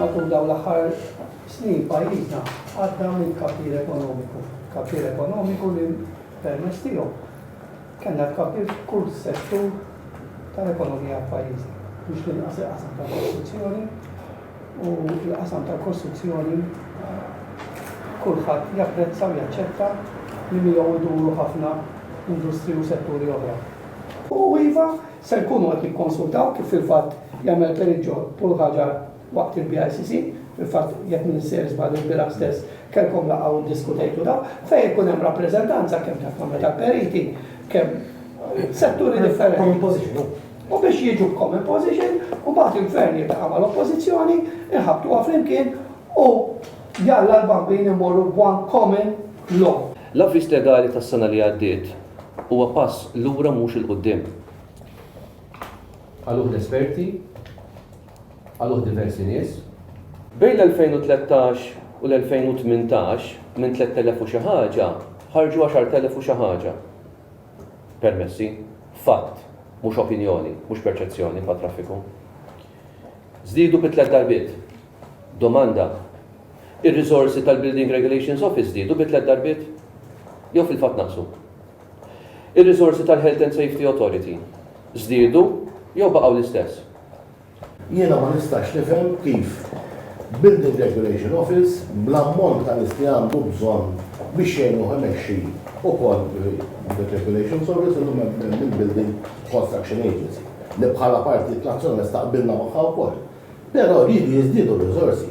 Matul dawn l-aħħar snin pajjiżna għadda minn tkabbir ekonomiku. Tkabbir ekonomiku li permezz tiegħu kellna tkabbir f'kull settur tal-ekonomija f'pajjiżna. Mhux l-inqas il-qasam tal-kostruzzjoni u l-qasam tal-kostruzzjoni kulħadd japprezza u jaċċetta li miegħu jduru ħafna industri u setturi oħra. U iva, Se nkunu qed nikkonsultaw, kif fil-fatt jagħmel Pereggio Pulħaġar waqt il-BICC, fil-fatt jekk m'iniex sejjer żball ilbieraħ stess kellkom laqgħa u ddiskutejtu dan, fejn ikun hemm rappreżentanza kemm ta' Kamra tal-Periti, kemm setturi differenti. U biex jiġu b'common position u mbagħad il-Gvern jiltaqa' mal-Oppożizzjoni, inħabbtuha flimkien u jalla l-bambin immorru b'one common law. L-avviż legali tas-sena li għaddiet huwa pass lura mhux 'il quddiem. Qaluh l-esperti, qaluh diversi nies. Bejn l-2013 u l-2018 minn tlett elef u xi ħaġa ħarġu għaxart elef u xi ħaġa permessi. Fatt, mhux opinjoni, mhux perċezzjoni bħat-traffiku. Żdiedu bi tliet darbiet. Domanda, Ir-riżorsi tal-Building Regulations Office żdiedu bi tliet darbiet? Jew fil-fatt naqsu? Ir-riżorsi tal-Health and Safety Authority żdiedu jew baqgħu l-istess? Jiena ma nistax nifhem kif Building Regulation Office bl-ammont ta' nies li għandu bżonn biex jgħinuh imexxi ukoll Building Regulations Office illum hemm il-Building Construction Agency li bħala Partit Nazzjonalista qbilna magħha wkoll. Però riedu jiżdiedu r-riżorsi.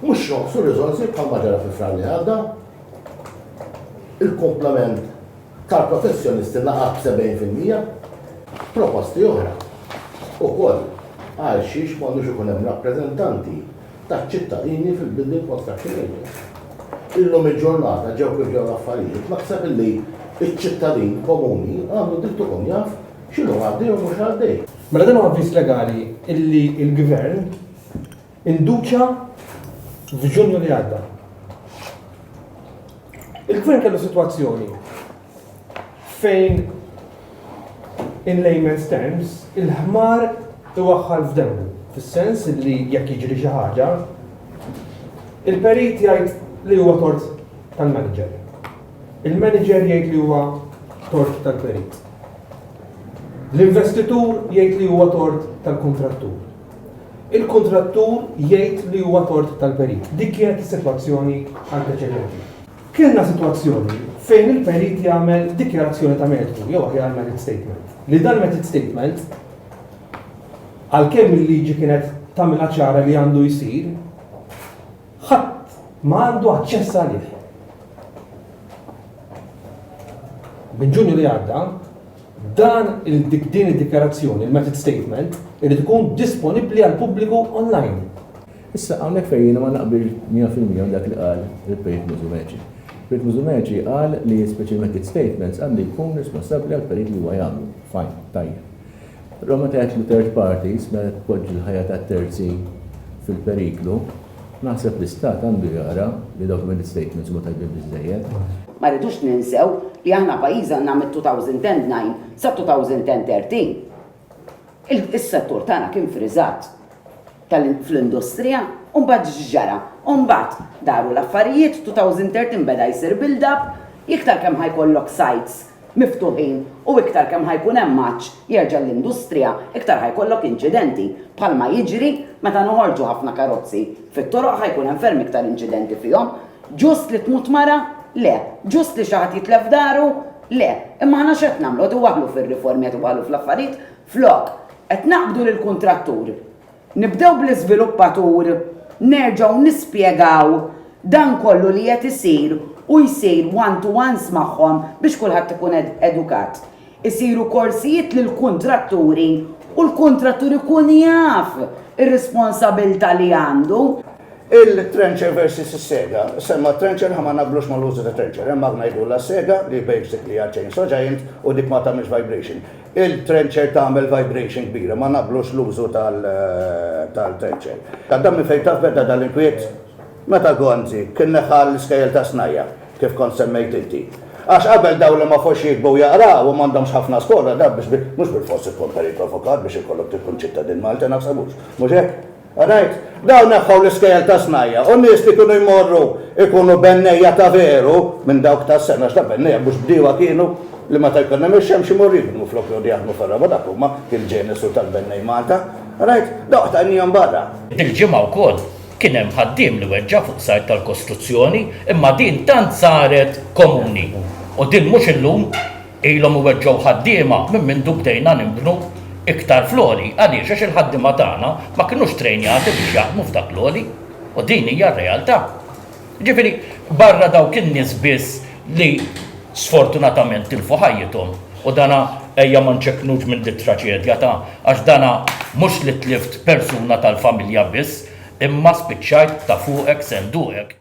Mhux jonqsu r-riżorsi bħalma ġara fi Frar li għadda. Il-kumplament tal-professjonisti naqas b'sebgħin fil-mija. Proposti oħra ukoll għalxiex m'għandux ikun hemm rappreżentanti taċ-ċittadini fil-Building Construction Union. Illum il-ġurnata ġew kif ġew l-affarijiet, naħseb illi ċ-ċittadin komuni għandu dritt ikun jaf X'inhu għaddej u mhux għaddej. Mela dan huwa avviż legali illi l-Gvern induċa f'Ġunju li għadda. Il-Gvern kellu sitwazzjoni fejn in layman's terms il-ħmar iwaħħal f'demmu, fis-sens li jekk jiġri xi ħaġa, il-perit jgħid li huwa tort tal-manager. Il-manager jgħid li huwa tort tal-perit. L-investitur jgħid li huwa tort tal-kuntrattur. Il-kuntrattur jgħid li huwa tort tal-perit. Dik kienet is-sitwazzjoni anteċedenti. Kellna sitwazzjoni fejn il-perit jagħmel dikjarazzjoni ta' mertu, jew aħjar merit statement, li dan merit statement għalkemm il-liġi kienet tagħmilha ċara li għandu jsir, Ħadd ma għandu aċċess għalih. Minn Ġunju li għadda, dan il-dik din id-dikjarazzjoni, il-method statement, irid ikun disponibbli għal pubbliku online. Issa hawnhekk fejn jiena ma naqbil 100% dak li qal il-Pejt Mużumeċi. Pejt Mużumeċi qal li speċi method statements għandu jkun responsabbli għal perit li huwa jagħmlu. Fajn, tajjeb. Roma tgħid li third parties meta tpoġġi l-ħajja ta' terzi fil-periklu, naħseb l-istat għandu jara li documented statements huma tajbin biżżejjed. Ma rridux ninsew li aħna pajjiż għandna mit-2009 sat-2013 is-settur tagħna kien friżat fl-industrija u mbagħad x'ġara? U mbagħad daru l-affarijiet, 2013 beda jsir build up, iktar kemm ħa jkollok sites miftuħin u iktar kemm ħa jkun hemm għatx jerġa' l-industrija, iktar ħa jkollok inċidenti, bħalma jiġri meta noħorġu ħafna karozzi fit-toroq ħa jkun hemm ferm iktar inċidenti fihom. Ġust li tmut mara? Le. Ġust li xi ħadd jitlef daru? Le. Imma aħna x'qed nagħmlu? Qed iwaħħlu fir-riformi, qed iwaħħlu fl-affarijiet flok qed naqbdu lill-kuntrattur Nibdew bl-iżviluppatur, nerġgħu nispjegaw dan kollu li qed isir u jsir one-to-ones magħhom biex kulħadd ikun edukat. Isiru korsijiet lill-kuntratturi u l-kuntrattur ikun jaf ir-responsabilità li għandu. Il-trencher versus is-sega. Semma t-trencher, aħna ma naqblux mal-użu ta' trencher. Hemm magna jgħidulha s-sega li basically hija chainsaw giant u dik ma tagħmilx vibration. Il-trencher tagħmel vibration kbira, ma naqblux l-użu tal-trencher. Tadda minn fejn taf beda dan l-inkwiet? Meta Gonzi kien neħħa l-iskejjel tas-snajja', kif kont semmejt inti. Għax qabel dawn li ma fhux jiktbu u jaqraw u m'għandhomx ħafna skola, dan biex mhux bilfors ikun periklu avukat biex ikollok tkun ċittadin Malti, naħseb mhux. Mhux hekk? All right? Dawn neħħew l-iskejjel ta' snajja' u n-nies li kienu jmorru jkunu bennejja ta' veru minn dawk tas-sena għax ta' bennejja mhux bdiewa kienu li meta jkun hemm ix-xemx imorru jibnu flok joqogħdu jaħdmu fir-raba' dak huma il-ġenesu tal-bennej Malta. All right? Dawk tajniehom barra. Dil-ġimgħa wkoll kien hemm ħaddiem li weġġa' fuq site tal-kostruzzjoni imma din tant saret komuni u din mhux illum. Ilhom iweġġgħu ħaddiema minn mindu bdejna nibnu iktar fl-għoli għaliex għax il-ħaddiema tagħna ma kinux trejnjati biex jaħdmu f'dak l-għoli u din hija r-realtà. Jiġifieri barra dawk in-nies biss li sfortunatament tilfu ħajjithom u dan ejja ma nċekknux minn dit-traċedja ta' għax dan mhux li tlift persuna tal-familja biss imma spiċċajt ta' fuqek senduqek.